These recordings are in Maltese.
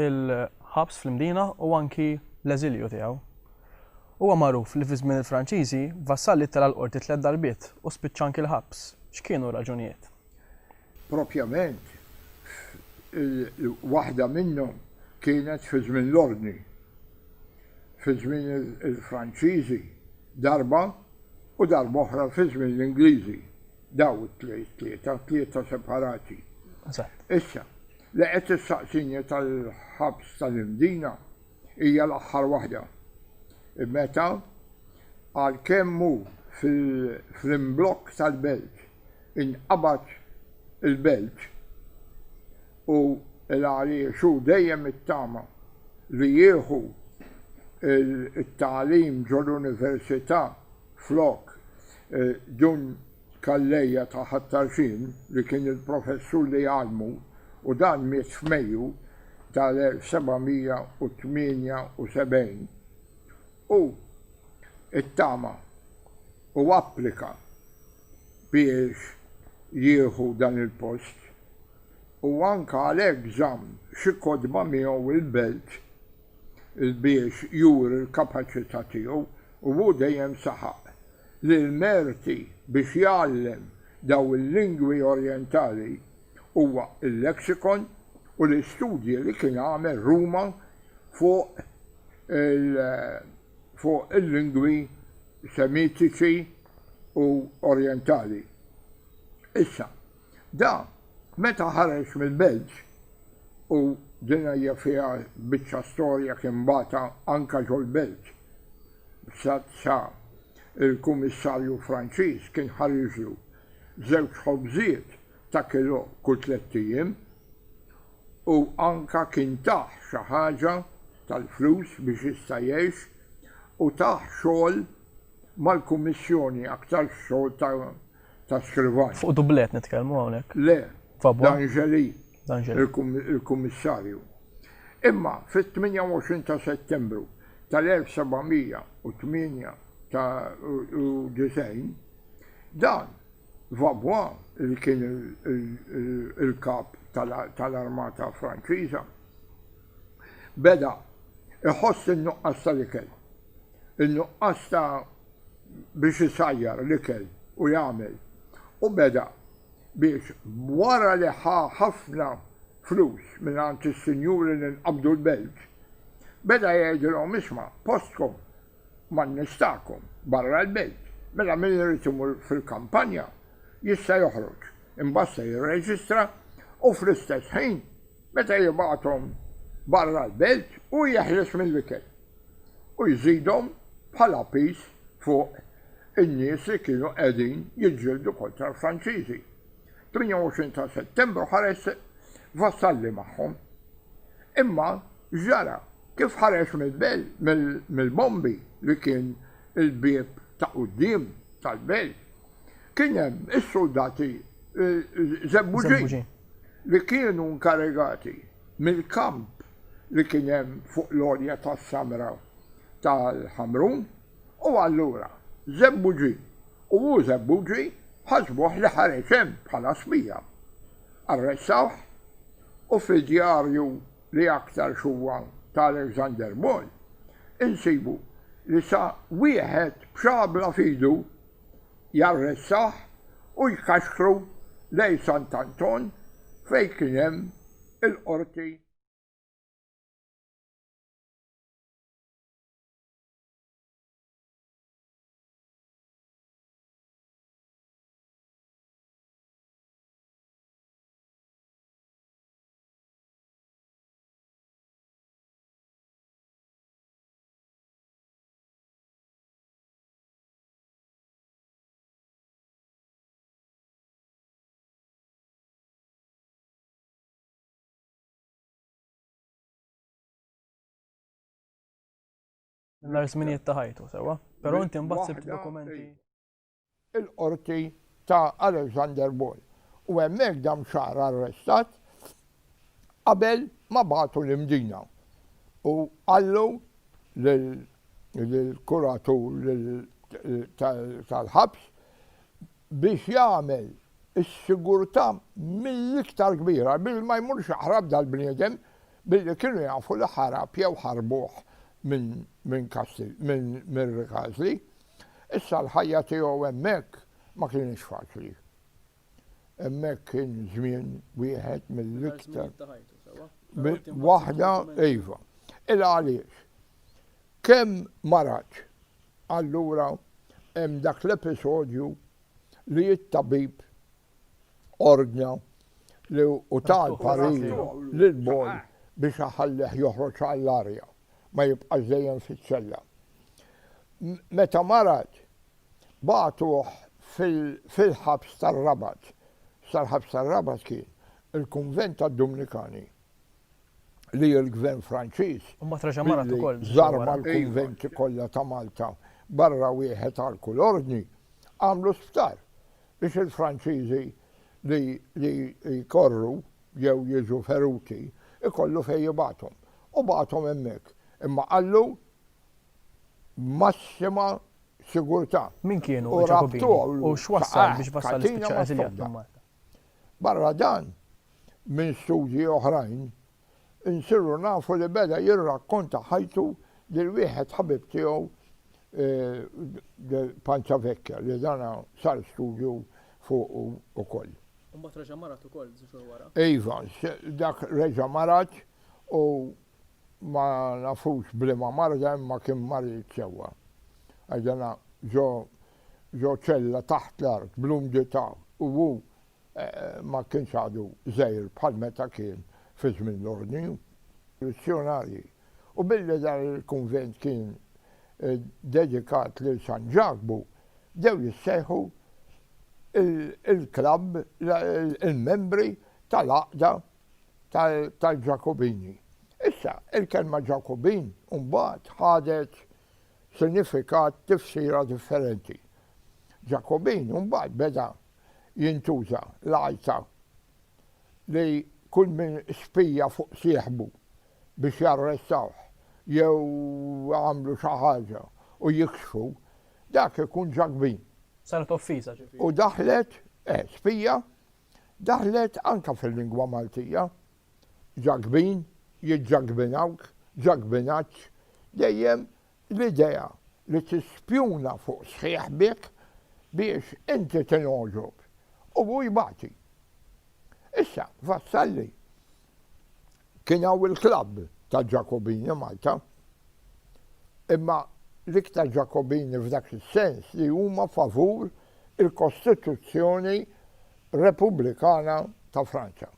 il-ħabs fl-Imdina u anki l-eżilju tiegħu. Huwa magħruf li fi żmien il-Franċiżi, Vassalli tela' l-Qorti tliet darbiet u spiċċa anki l-ħabs. X'kienu r-raġunijiet? Propjament, waħda minnhom kienet fi żmien l-Ordni, fi żmien il-Franċiżi darba u darba oħra fi żmien l-Ingliżi. Dawn it-tlieta, tlieta separati. Issa, Li qed tistaqsini tal-ħabs tal-Imdina hija l-aħħar waħda. Meta, għalkemm hu fl-imblokk tal-Belt, inqabad il-Belt u l-għaliex hu dejjem ittama li jieħu t-tagħlim ġol-Università flok dun Calleja ta' Ħat-Tarxien li kien il-professur li għallmu u dan miet f'Mejju tal-1778. Hu ttama u applika biex jieħu dan il-post u anke għalhekk żamm xi kotba miegħu il-Belt. biex juri l-kapaċità tiegħu u hu dejjem saħaq li l-merti biex jgħallem dawn il-lingwi orjentali huwa l-lexicon u l-istudji li kien għamel Ruma fuq fuq il-lingwi Semitiċi u Orjentali. Issa. Da, meta ħareġ mill-Belġ, u din hija fiha biċċa storja kien bata anke ġol-Belġ, sa, sa l-Kummissarju Franċiż kien ħariġlu żewġ ħobżiet ta' kilò kull tlett ijiem, u anke kien tah xi ħaġa tal-flus biex jista' jgħix, u tah xogħol mal-Kummissjoni, aktarx xogħol ta'. ta' skrivani. Fuq dublett nitkellmu hawnhekk? Le, D'Angeli, il-Kummissarju. Imma fit-28 ta' Settembru tal-1798, dan Vaubois li kien il-Kap tal-Armata Franċiża beda jħoss in-nuqqas tal-ikel, in-nuqqas ta' biex isajjar l-ikel u jagħmel u beda biex wara li ħa ħafna flus mingħand is-sinjuri li nqabdu l-belt, beda jgħidilhom isma' postkom man-nies tagħkom barra l-belt, mela min irid imur fil-kampanja jista' joħroġ, imbagħad se jirreġistra u fl-istess ħin Meta jibgħathom barra l-belt hu jeħles mill-ikel u jżidhom bħala piż fuq in-nies li kienu qegħdin jiġġieldu kontra l-Franċiżi. 28 ta' Settembru ħareġ Vassalli magħhom. Imma x'ġara? Kif ħareġ mill-bombi li kien il-bieb ta' quddiem tal-belt, kien hemm is-suldati żebbuġin. li kienu nkarigati mill-kamp li kien hemm fuq l-għolja tas-samra tal-Ħamrun, u allura Żebbuġi u hu Żebbuġi ħasbuh li ħareġ hemm bħala spija. Arrestawh u fid-djarju li aktarx huwa ta' Alexander Ball insibu li sa wieħed b'xabla f'idu, jarressah u jkaxkru lejn Sant' Anton fejn kien hemm il-qorti. l-ar żminijiet ta' ħajtu sewwa, però inti mbagħad sibt dokumenti. Il-qorti ta' Alexander Ball. U hemmhekk dam xahar arrestat qabel ma bagħtu l-imdina u qallu lill-kuratur tal-ħabs biex jagħmel is-sigurtà mill-iktar kbira billi ma jmurx jaħrab dal-bniedem billi kienu jafu li ħarab jew ħarbuh minn Rikasli. Issa l-ħajja tiegħu hemmhekk ma kinitx faċli. Hemmhekk kien żmien wieħed mill-iktar. Waħda iva. Il għaliex. Kemm maratx. Allura hemm dak l-episodju li t-tabib ordna li u tal parir lil boj biex aħallih joħroġ għall-arja ma jibqax dejjem fiċ-ċella. Meta marat bagħtuh fil-ħabs tar-Rabat. Sal-ħabs tar-Rabat kien il-kunvent tad-Dumnikani li l-gvern Franċiż billi żarma l-kunventi kollha ta' Malta barra wieħed għal kull ordni, għamlu sptar biex il-Franċiżi li jkorru jew jiġu feruti jkollu fejn jibagħthom. U bagħthom hemmhekk. Imma qallu. b'massima sigurtà. Min kienu l-Ġakobini u x'wassal biex wassal l-ispiċċa eżiljat minn Malta? Barra dan, minn studji oħrajn, insiru nafu li beda jirrakkonta ħajtu lil wieħed ħabib tiegħu eh, Panza Vecchia li dana sar studju fuq ukoll. Mbagħad reġa' marat ukoll żgur wara. Iva, dak reġa' marat u ma nafux b'liema marda imma kien marid sewwa. Għax dana ġo ġo ċella taħt l-art bl-umdità u hu ma kienx għadu żgħir bħal meta kien fi żmien l-Ordni. Missjunarji. U billi dan il-kunvent kien dedikat lil San Ġakbu, bdew jissejħu il-klabb, il-membri tal-għaqda tal-Ġakobini. Issa, il-kelma Ġakobin mbagħad ħadet sinifikat tifsira differenti. Ġakobin mbagħad beda jintuża l-għajta li kull min spija fuq sieħbu biex jarrestawh jew għamlu xi ħaġa u jikxfu, dak ikun ġakbin. Saret offiża ġifieri. U daħlet, eh, spija, daħlet anke fil-lingwa Maltija, ġagbin, jiġġagbinawk, ġagbinaġġ, dejjem l-idea li tispjuna fuq sħiħbek biex inti tingħoġob u hu jbati. Issa, Vassalli Kien hawn il-klabb tal-Ġakobini Malta, imma l-iktar Ġakobini f'dak is-sens li huma favur il-Kostituzzjoni Repubblikana ta' Franza.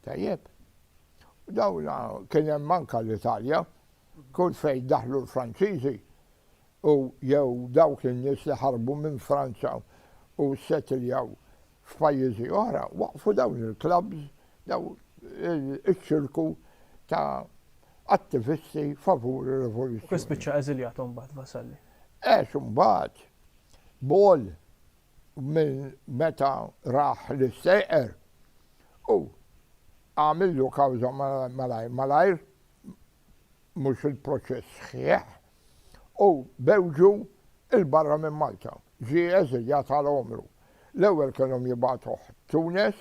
Tajjeb? U dawn kien hemm anke l-Italja, kull fejn daħlu l-Franċiżi u jew dawk in-nies li ħarbu minn Franza u ssetiljaw F'pajjiżi oħra waqqfu dawn il-klabbs, dawn iċ-ċirku ta' attivisti favur ir-rivoluzzjoni. Kif spiċċa eżiljat imbagħad Vassalli? Għex imbagħad Ball minn meta rah li sejqer u għamillu kawża malajr malajr mhux il-proċess sħiħ u bewġu il-barra minn Malta. Ġie eżiljat għal għomru. L-ewwel kellhom jibagħtuh Tunes,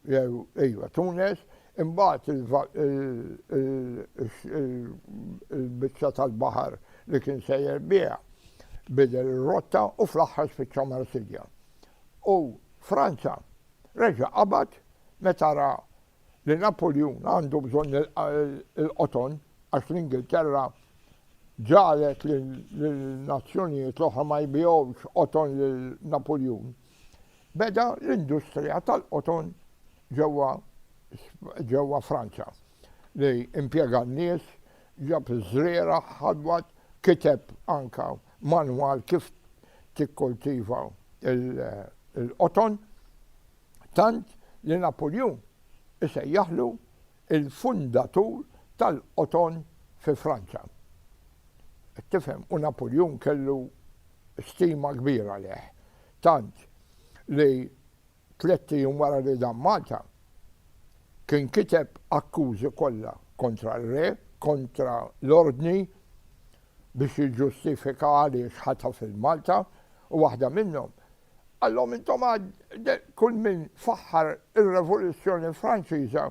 jew ejwa Tunes, imbagħad il-biċċa tal-baħar li kien sejjer biha bidel ir-rotta u fl-aħħar spiċċa Marsilja. U Franza reġa' qabad meta ra li Napuljun għandu bżonn il-qoton għax l-Ingilterra ġagħlet lin-nazzjonijiet l-oħra ma jbigħux qoton lil Napuljun, beda l-industrija tal-qoton ġewwa Franza li impjega n-nies, ġab iż-żrieragħ, ħadwad, kiteb anke manwal kif tikkultiva l-qoton. tant li Napuljun isejjaħlu l-fundatur tal-qoton fi Franza. Qed tifhem? U Napuljun kellu stima kbira għalih, tant li tlett ijiem wara li dan Malta, kien kiteb akkużi kollha kontra r-re, kontra l-ordni biex jiġġustifika għaliex ħataf il-Malta u waħda minnhom Qallhom intom għad kull min faħħar ir-Revoluzzjoni Franċiża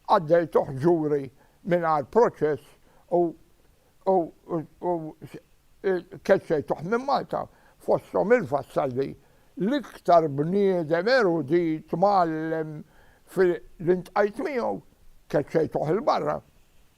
għaddejtuh ġuri mingħajr proċess u u u keċċejtuh minn Malta, fosthom il-Vassalli, l-iktar bniedem erudit, mgħallem, fi li ntqajt miegħu, keċċejtuh 'il barra.